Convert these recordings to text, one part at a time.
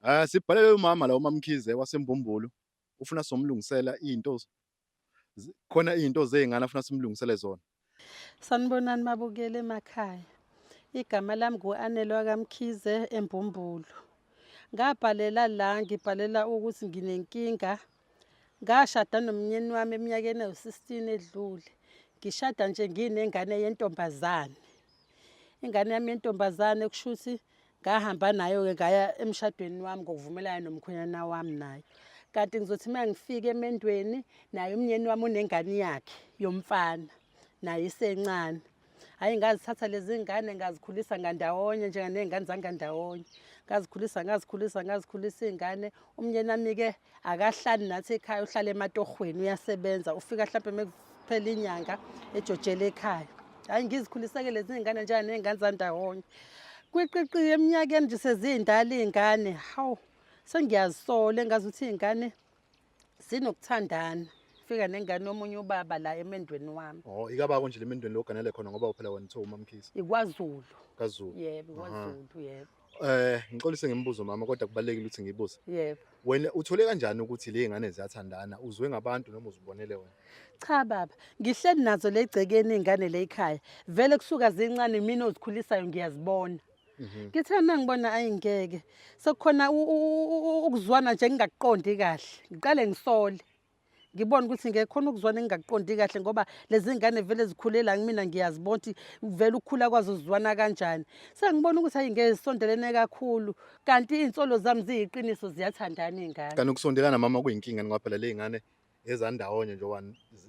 Eh, sibhalele umama la uMamkhize waseMbumbulu ufuna somlungisela izinto z- khona izinto zezingane afuna simlungisele zona. Sanibonani mabukeli emakhaya. Igama lami ngu-Anelwa kaMkhize eMbumbulu. Ngabhalela la ngibhalela ukuthi nginenkinga Ngashada nomnyeni wami eminyakeni ewu-16 edlule. Ngishada nje nginengane yentombazane. Ingane yami yentombazane kusho ukuthi ngahamba nayo-ke ngaya emshadweni wami ngokuvumelana nomkhwenyana wami nayo. Kanti ngizothi uma ngifika emendweni naye umnyeni wami unengane yakhe yomfana naye isencane. hhayi ngazithatha lezi ngane ngazikhulisa ngandawonye njenganey'ngane zangandawonye ngazikhulisa ngazikhulisa ngazikhulisa iy'ngane umnyeni wami-ke akahlali nathi ekhaya uhlale ematohweni uyasebenza ufika hlampe mekuphela inyanga ejojele ekhaya hhayi ngizikhuliseke lezi ngane njani ney'ngane zandawonye kwiqiqiye eminyakeni nje seziyindala iy'ngane hawu sengiyazisola engazi ukuthi iy'ngane sinokuthandana fika nengane yomunye ubaba la emendweni wami oh ikabako nje lemendweni loganele khona ngoba uphela wena uthiwa umamkhisi ikwazulu kazulu yebo ikwazulu yebo eh ngixolise ngemibuzo mama kodwa kubalekile ukuthi ngibuze yebo wena uthole kanjani ukuthi le ngane ziyathandana uzwe ngabantu noma uzibonele wena cha baba ngihleli nazo legcekeni ingane le ikhaya vele kusuka zincane mina ozikhulisayo ngiyazibona Mhm. ngithe uma ngibona ayi ngeke sekukhona u- u- u- u- ukuzwana nje engingakuqondi kahle ngiqale ngisole ngibone ukuthi ngeke khona ukuzwana engingakuqondi kahle ngoba lezi ngane vele zikhulela kumina ngiyazibona ukuthi vele ukukhula kwazo zizwana kanjani sengibona ukuthi ayi ngeke zisondelene kakhulu kanti iy'nsolo zami ziyiqiniso ziyathandana iy'ngane kanti ukusondelana mama kuyinkinga ngoba phela ley'ngane ezandawonye njengoba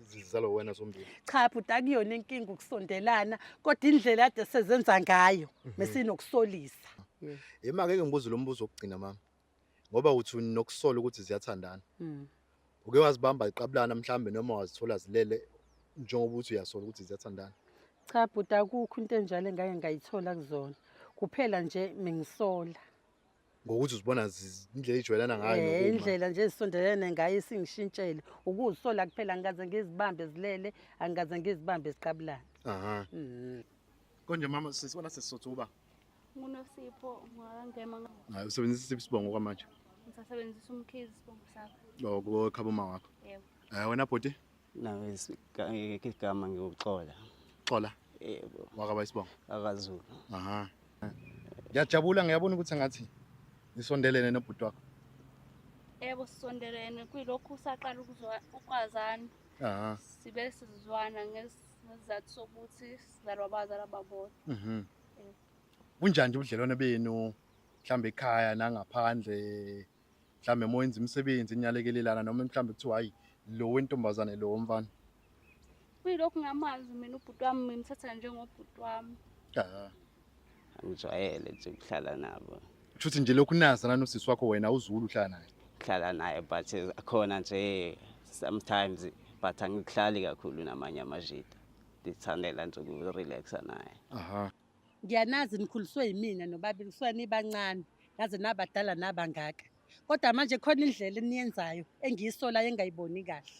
zizalo wena sombili cha bhuti akuyona inkinga ukusondelana kodwa indlela ade sezenza ngayo mhm. mesinokusolisa yema-ke mm. ngibuze lo mbuzo wokugcina mama ngoba uthi nokusola ukuthi ziyathandana mm. uke wazibamba iqabulana mhlawumbe noma wazithola zilele njengoba uthi uyasola ukuthi ziyathandana cha bhuti akukho into enjalo engake ngayithola kuzona kuphela nje mengisola ngokuthi uzibona zi- indlela ijwayelana ngayo Eh, nokuma. indlela nje ezisondelene ngayo isingishintshele ukuzisola kuphela angikaze ngizibambe zilele angikaze ngizibambe ziqabulana aha Mm. konje mama sisibona sesisotha uba ngunosipho ngwakangema hayi usebenzisa isiphi isibongo kwamanje ngisasebenzisa umkhizi isibongo sakho loko khaba uma wakho yebo um wena bhuti nawe ngeke igama ngikuxola xola yebo wakaba isibongo akazulu aha ngiyajabula ngiyabona ukuthi ngathi nisondelene nobhuti wakho yebo sisondelene kuyilokhu usaqala ukuzwa- ukwazana aha sibe sizwana ngesi- ngesizathu sokuthi sizalwa abazali ababodwa mhm kunjani nje ubudlelwane benu mhlambe ekhaya nangaphandle mhlawumbe uma wenza imisebenzi enyalekelelana noma mhlawumbe kuthiwa hhayi lo wentombazane lo womfana kuyilokhu ngamazi mina ubhuti wami ngimthatha njengobhuti wami ah. angijwayele nje ukuhlala nabo kusho ukuthi nje lokhu unazana nosisi wakho wena awuzuli uhlala naye hlala naye but akhona nje sometimes but angihlali kakhulu namanye amajita ndithandela nje ukurelaxa naye aha Ngiyanazi nikhuliswe yimina nobabili kusuka nibancane naze nabadala nabangaka. Kodwa manje khona indlela eniyenzayo engiyisolayo engayiboni kahle.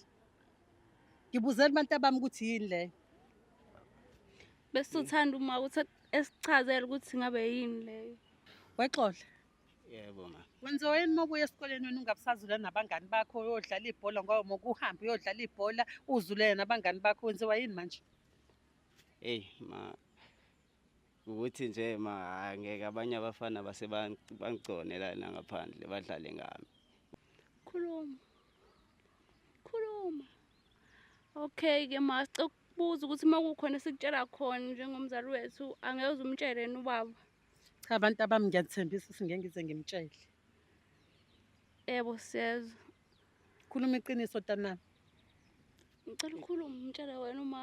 Ngibuzela abantu abami ukuthi yini leyo. Besuthanda uma uthi esichazela ukuthi ngabe yini leyo. Wexola. Yebo ma. Wenziwa yini mokuya esikoleni wena ungabusazula nabangani bakho uyodlala ibhola ngoba mokuhamba uyodlala ibhola uzulele nabangani bakho wenziwa yini manje? hey ma ukuthi nje ma ngeke abanye abafana base bangigcone lana ngaphandle badlale ngami khuluma khuluma okay ke ma sicokubuza ukuthi uma kukhona sikutshela khona njengomzali wethu angeke uzumtshele yena ubaba cha abantu abami ngiyathembisa ukuthi ngeke ngize ngimtshele yebo siyezwa Khuluma iqiniso tanami. Ngicela ukhulume umtshele wena uma